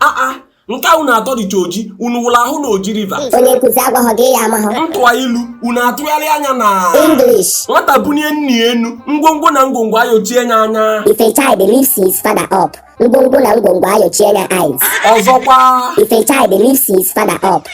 aa ah, ah, nke a unu atọ dịcha oji unu wụrụ ahụ na Oji River onye nkụzi agwaghọ gị ị ya amahọ m tụwa ilu unu atụgharịa nya na English nwata bunye nna ya enu ngwongwo na ngwongwo ayochie nya anya if a child lifts his father up ngwongwo na ngwongwo ayochie nya eyes ọzọkwa if a child lifts his father up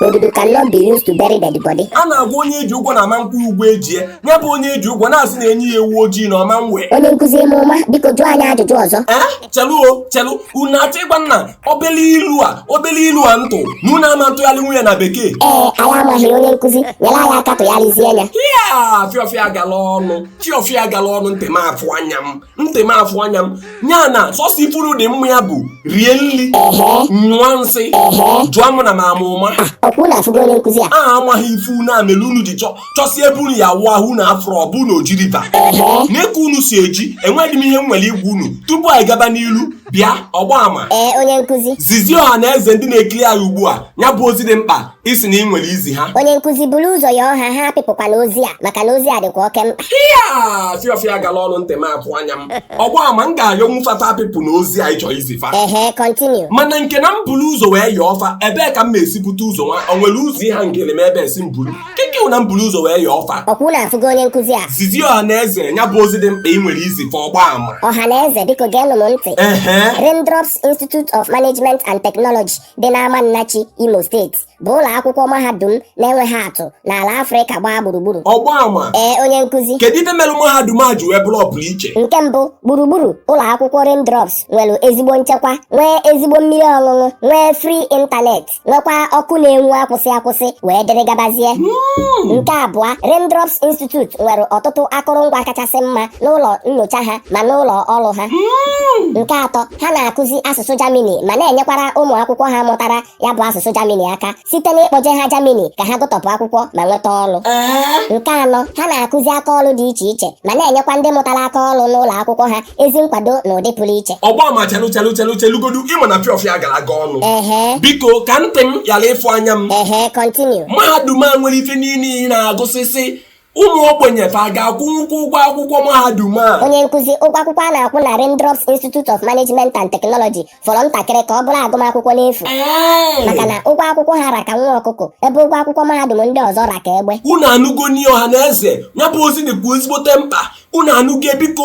Odudu cannot be used to bury dead body. a na-agwa onye eji ụgwọ na ama nkwụ ụgwọ ejie ya bụ onye eji ụgwọ na-asị na enye ya ewu ojii na ọ ma nwe Onye nkụzi ime ụma biko jụọ anyị ajụjụ ọzọ. ee chelu o chelu unu achọ ịgwa m na obele ilu a obele ilu a m tụ na unu ama ntụgharịnwu nya na bekee Ee, anyị amaghị onye nkụzi nyere anyị aka tụgharịzie ya. ya fiọfịa gala ọnụ fiọfịa gala ọnụ ntị m afụ anya m ntị m afụ anya m ya na sọsọ ife unu dị mma ya bụ rie nri nyụọ nsị jụọ m na m ama ụma ọkwa unu afụgo onye nkụzi a a amaghị ife unu a mere unu ji chọsie ebe unu ya-awụ ahụ unu afụrọ ọ bụ na Oji River nee ka unu si eji enwedị m ihe m nwere igwa unu tupu anyị gaba n'ilu bịa ọgba ama ee onye nkụzi zizie ọha na eze ndị na-ekiri anyị ugbu a ya bụ ozi dị mkpa ị sị na ị nwere izi ha onye nkụzi buru ụzọ yọọ ha ha apịpụkwana ozi a maka na ozi a dịkwa oke mkpa ya fiọfịa gala ọnụ ntị m afụ anya m ọgba ama m ga-ayọnwu fa taa apịpụna ozi a ị chọ izi fa ehe continue mana nke na m buru ụzọ wee yọọ fa ebee ka m na-esi bute ụzọ nwa o nwere ụzọ ịha ngele m ebe esi m buru keke na m buru ụzọ wee yọọ fa ọkwa unu afụgo onye nkụzi a zizie ọha na eze ya bụ ozi dị mkpa ị nwere izi fa ọgba ama ọha na eze biko geenụ m ntị ehe Raindrops Institute of Management and Technology dị n'Amannachi Imo steeti bụ ụlọ akwụkwọ mahadum na-enweghị atụ n'ala Afrịka gbaa gburugburu ọgba ama ee onye nkụzi kedu ife merụ mahadum a ji wee bụrụ ọpụrụ iche nke mbụ gburugburu ụlọ akwụkwọ Raindrops nwere ezigbo nchekwa nwee ezigbo mmiri ọṅụṅụ nwee free internet nwekwa ọkụ na-enwu akwụsị akwụsị wee dịrị gabazie hmm. nke abụọ Raindrops Institute nwere ọtụtụ akụrụngwa kachasị mma n'ụlọ nyocha ha ma n'ụlọ ọrụ ha hmm. nke atọ Ha na-akụzi asụsụ Germany ma na-enyekwara ụmụ akwụkwọ ha mụtara ya bụ asụsụ Germany aka site n'ịkpọje ha Germany ka ha gụtọpụ akwụkwọ ma nweta ọrụ. Nke anọ, ha na-akụzi aka ọrụ dị iche iche ma na-enyekwa ndị mụtara aka ọrụ n'ụlọ akwụkwọ ha ezi nkwado n'ụdị pụrụ iche. Ọgba ama chelu chelu chelu chelugodu ị ma na fiọfịa gara aga ọnụ. Biko ka ntị m ghara ịfụ anya m. Mahadum a nwere ife niile ị na-agụsịsị ụmụ ogbenye fa ga-akwụnwukwa ụgwọ akwụkwọ mahadum a onye nkụzi ụgwọ akwụkwọ a na-akwụ na Raindrops Institute of Management and Technology fọrọ ntakịrị ka ọ bụrụ agụmakwụkwọ n'efu maka na ụgwọ akwụkwọ ha ra ka nwa ọkụkọ ebe ụgwọ akwụkwọ mahadum ndị ọzọ ra ka egbe unu anụgonụ ọha na eze ya bụ ozi dịkwa ezigbote mkpa unu anụgo biko